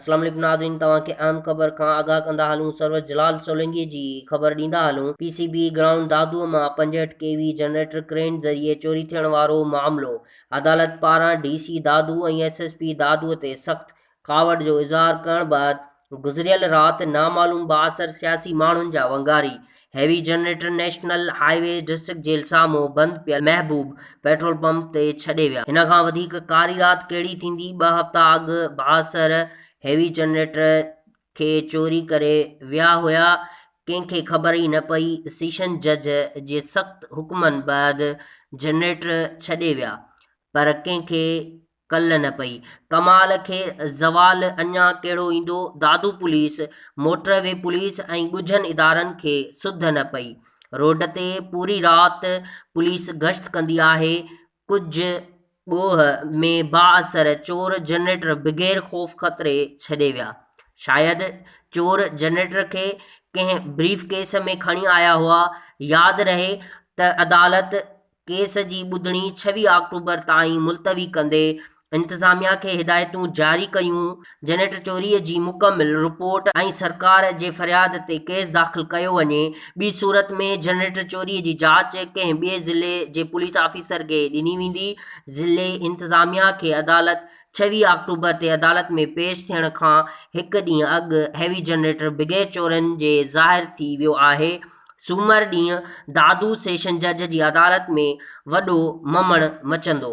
السلام عليڪم ناظرين توهان کي اهم خبر کان آگاهه ڪندا هلون سرور جلال سولنگي جي خبر ڏيندا هلون P C B ground Dadu مان پنجهٺ ڪي وي جنريٽر ڪرين ذريعي چوري ٿيڻ وارو معاملو عدالت پاران D C Dadu ۽ S S P Dadu تي سخت ڪاوڙ جو اظهار ڪرڻ بعد گذريل رات نامعلوم بااثر سياسي ماڻهن جا ونگاري heavy generator national highway district jail سامهون بند پيل محبوب پيٽرول پمپ تي ڇڏي ويا. هن کان وڌيڪ ڪاري رات ڪهڙي ٿيندي، ٻه هفتا اڳ بااثر هيوي جنريٽر کي چوري ڪري ويا هيا، ڪنهن کي خبر ئي نه پئي، سيشن جج جي سخت حڪمن بعد جنريٽر ڇڏي ويا پر ڪنهن کي ڪل نه پئي. ڪمال کي زوال اڃا ڪهڙو ايندو. Dadu police, motorway police ۽ ڳجهن ادارن کي سڌ نه پئي. روڊ تي پوري رات پوليس گشت ڪندي آهي. ڪجهه ڳوهه ۾ بااثر چور جنريٽر بغير خوف خطري ڇڏي ويا. شايد چور جنريٽر کي ڪنهن بريف ڪيس ۾ کڻي آيا هئا. ياد رهي ته عدالت ڪيس جي ٻڌڻي ڇويهه آڪٽوبر تائين ملتوي ڪندي انتظاميا کي هدايتون جاري ڪيون، جنريٽر چوري جي مڪمل رپورٽ ۽ سرڪار جي فرياد تي ڪيس داخل ڪيو وڃي، ٻي صورت ۾ جنريٽر چوري جي جاچ ڪنهن ٻئي ضلعي جي پوليس آفيسر کي ڏني ويندي، ضلعي انتظاميا کي عدالت ڇويهه آڪٽوبر تي عدالت ۾ پيش ٿيڻ کان هڪ ڏينهن اڳ هيوي جنريٽر بغير چورن جي ظاهر ٿي ويو آهي، سومر ڏينهن دادو سيشن جج جي عدالت ۾ وڏو ممڻ مچندو.